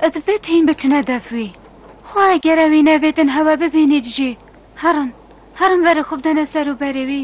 Ez betîn biçine defwî. Xwe eger ewî nebêtin hewe bibînît jî. Herin, herin verê xwe bidene ser û berê wî.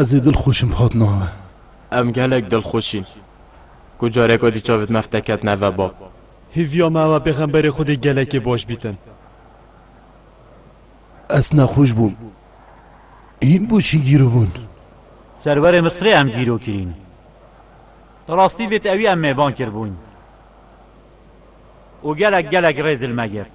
Ez ê dilxweş im hat na me. Em gelek dilxweş in ku careka di çavê me fte ketine ve bab. Hêviya me ew e Pêxemberê Xwedê gelekê baş bîtin. Ez nexweş bûm. Hîn boşî gîribûn. Serwerê Misrê em gîro kirîn. Di rastî vê tewî em mêvan kiribûn û gelek gelek rê zilme girt.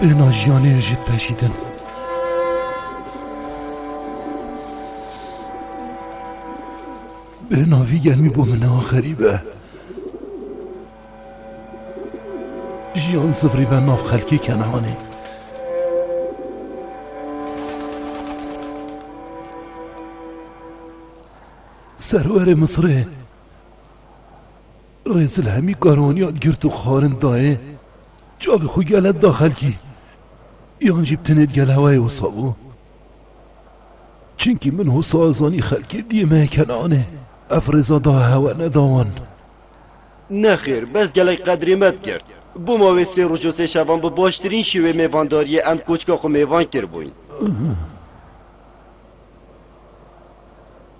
Bêna jiyanê jî peşîdin. Bêna vî germî bû min newa xerîbe. Jiyan zivrî ve nav xelkê kenehanê. Serwerê Misirê Rêzil hemî karaniyan girt û xwarin dayê çavê xwe gele da xelkî yan jî bi tenê di gel hewayê wisa bû. Çimkî min wisa zanî xelkê diyê me Kenanê ev rêza da hewa neda wan. Nexêr, bes gelek qedrê me digirt. Bo mavê sê roj û sê şevan bi baştirîn şêwê mêvandariyê em koçka xwe mêvan kiribûyn.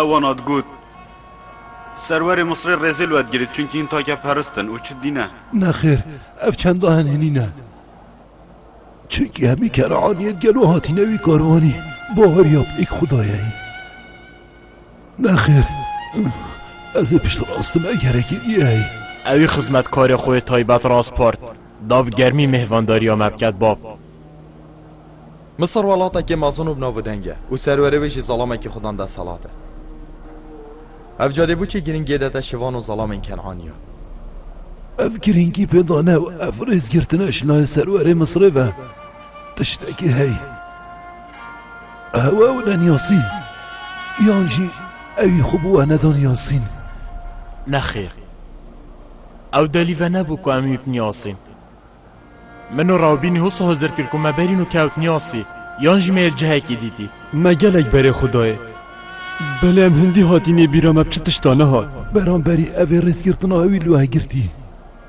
Ew wana digot, Serwerê Misrê rêzê li we digire çunkî hin take perist in û çi dîne. Nexêr, ev çenda hin hinîn e. Çunkî hemî Keneaniyên gelo hatîne wî karwanî, baweriya bi yek Xwedayê heye. Nexêr, ez ê piştrast me gerekî nîyê. Ewî xizmetkarê xwe yê taybet raspard da bi germî mêhvandariya me biket bab. Misir welatekî mezin û bi nav û deng e û serwerê wê jî zelamekî xwe dan desthilat e. Ev cadêbûçê girîngiyê dete şivan û zelamên Kenanî ya. Ev girîngî pê dane û ev rêzgirtine şina yê serwerê Misirê ve tiştekî heye. Ew ew ne Niyasî? Yan jî ewî xwe bi we neda Niyasîn? Nexêr. Ew delî venebû ku em wî bi Niyasîn. Min û Rawbînî wisa hozir kir ku me berîn û kewt Niyasî, yan jî me yê li cihekî dîtî. Me gelek berê xwe dayê. Belê em hindî hatînê bîra me bi çi tiştan nehat. Beramberî evê rêzgirtina ewî li we girtî.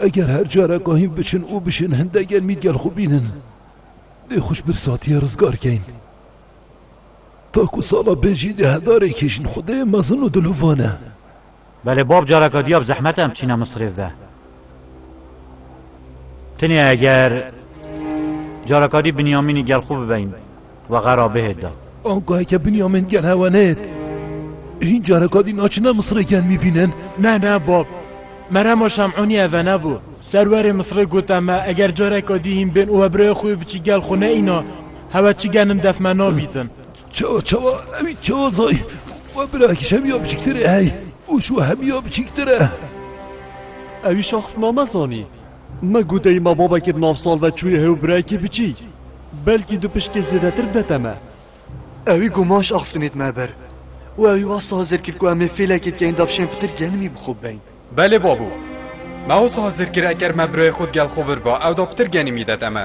Eger her careka hîn biçin û bişên hinde gel mî gel xwe bînin, dê xwe ji bir satiye rizgar kein. Ta ku sala bê jî dê hedarê kêşin xwe dê mezin û dilovan e. Belê bab careka diya bi zehmet em çîne Misirê bibe. Tenê eger careka dî Binyamînî gel xwe bibein. Wexe ra bihêt da. Angaheke Binyamin gel hewa neyêt. Hîn careka dî naçine Misirê gel mîbînin? Ne ne bab. Merema Şem'ûnî eve nebû. Serwerê Misirê gote me eger careka dî hîn bên û we birayê xwe yê biçî gel xwe neîna, hewe çi genim def me nabîtin. Çawa çawa ewî çawa zay we birakî Şemîya biçiktir ê hey û şû Hemîya biçîktir e. Ewî şaxtname zanî. Me got ey ma babekê bi nav Salve çûye hê û birayekê biçîk, belkî du pişkê zêdetir bidete me. Ewî ku maş axiftinêt me ber û ewî wasta hizir kir ku em ê fêlekê dikeyn davşên pitir genimî bi xwe bibeyn. Belê babû. Me wisa hizir kir eker me birayê xwe di gel xwe vir ba, ewda pitir genimî dete me.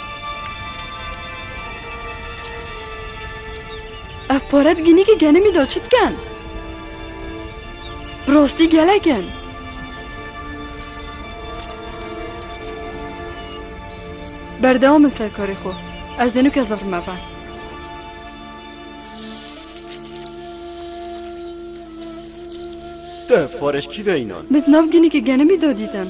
Ev pare bigînî ki genimî da çi dikin? Bi rastî gelek in. Berdewam in serkarê xwe. Ez dê nuke zehrim eve. Te pareş kî ve înan? Min nav ginî ki genimî da dîtin.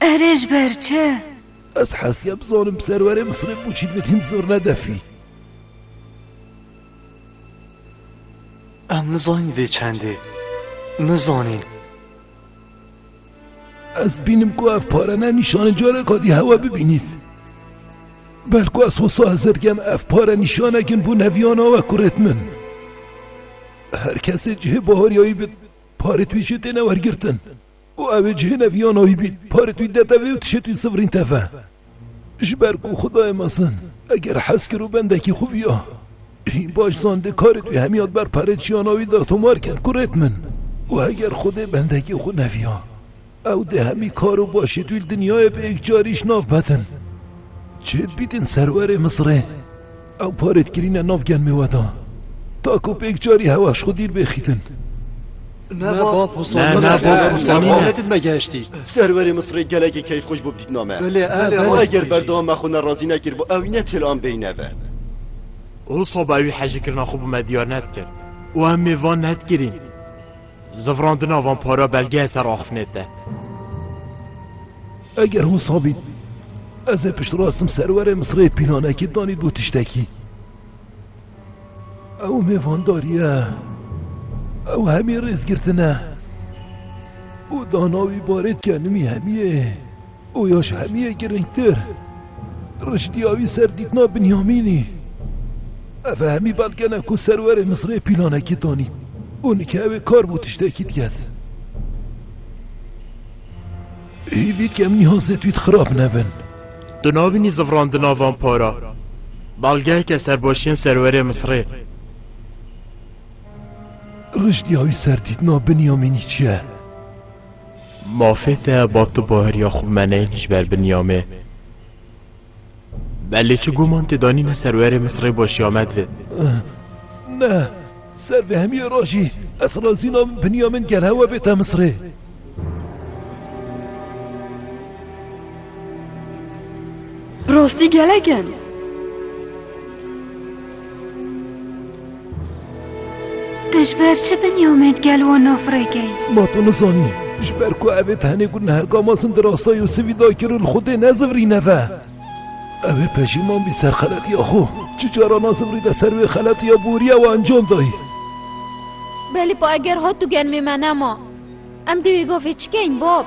Erê ji ber çi? Ez hesiya bizanim serwerê Misirê Pûçî divê hîn zor nedefî. Em nizanîn vê çendê. Nizanîn. Ez bînim ku ev pare ne nîşanê careka dî hewa bibînît. Belku ez hosa hezir dikem ev pare nîşanekin bû neviyana we kurêt min. Her kesê cihê baharyayî bit parê twî jê têne wergirtin. Û ew ê cihê neviyana wî bît. Parê tûî de tevê û tişê tûî sivrîn teve. Ji ber ku Xwedayê mezin, eger hez kir û bendekî xwe viya, hîn baş zandê karê tûî hemiyat ber parê çiyana wî de tomar kir ku rêt min. Û heger Xwedê bendekî xwe neviya, ew dê hemî kar û başê tûî li dinyayê bi yekcarî ji nav betin. Çêdibîtên serwerê Misirê. Ew parê dikirîne nav gelmê we de ta ku pêk carî hewa ji xwe dîr bê xîtin. Ne bab Husam, ne bab Husam, ne did me gehiştî. Serwerê Misirê gelekî keyfxweş bû bi dîtina me. Belê, eger berdewam me xwe ne razî nekir bo ewî ne têl an beyne ve. Husam ewî hejîkirina xwe bi me diyar nedikir û em ê van nedikirîn. Zivrandina van para belgeya ser axifnê te. Eger wisa bî, ez ê piştrastim serwerê Misirê pîlanekî danî du tiştekî. Ew mêvandarî ye, ew hemî rêzgirtin e û dana wî barê dike nimî hemiyê. û ya ji hemî yê girîngtir riştiya wî ser dîtina Binyamînî. Ev e hemî belgene ku serwerê Misirê pîlanekî danî û nikewê kar bû tiştekî diket. Hîvî dikem nîhazê twît xirab nebin. Di navî nîzifrandina van para belgeyeke serbaşiyên serwerê Misirê. Riştiya wî ser dîtina Binyamînî çi ye? Mafê te ba tu baheriya xwe bimenê ji ber Binyamê. Belê çi guman tê danîne serwerê Misirê başiya me divê. Ne, ser vê hemiyê re jî ez razî nabim Binyamîn gel hewa bête Misirê. Rastî gelek in. Tu ji ber çi binî Omed gel wan nafirêkey? Ma tu nizanî ji ber ku ev ê tenê ku neherka masin di rasta Yûsivî da kir û li xwe tê nezivirî neve. Ew ê pejîman bî ser xeletiya xwe. Çi caran a zivirî de ser wê xeletiya boriya we encam dayî. Belê pa eger hat û genmê me nema. Em dê wê gavê çikeyn bab?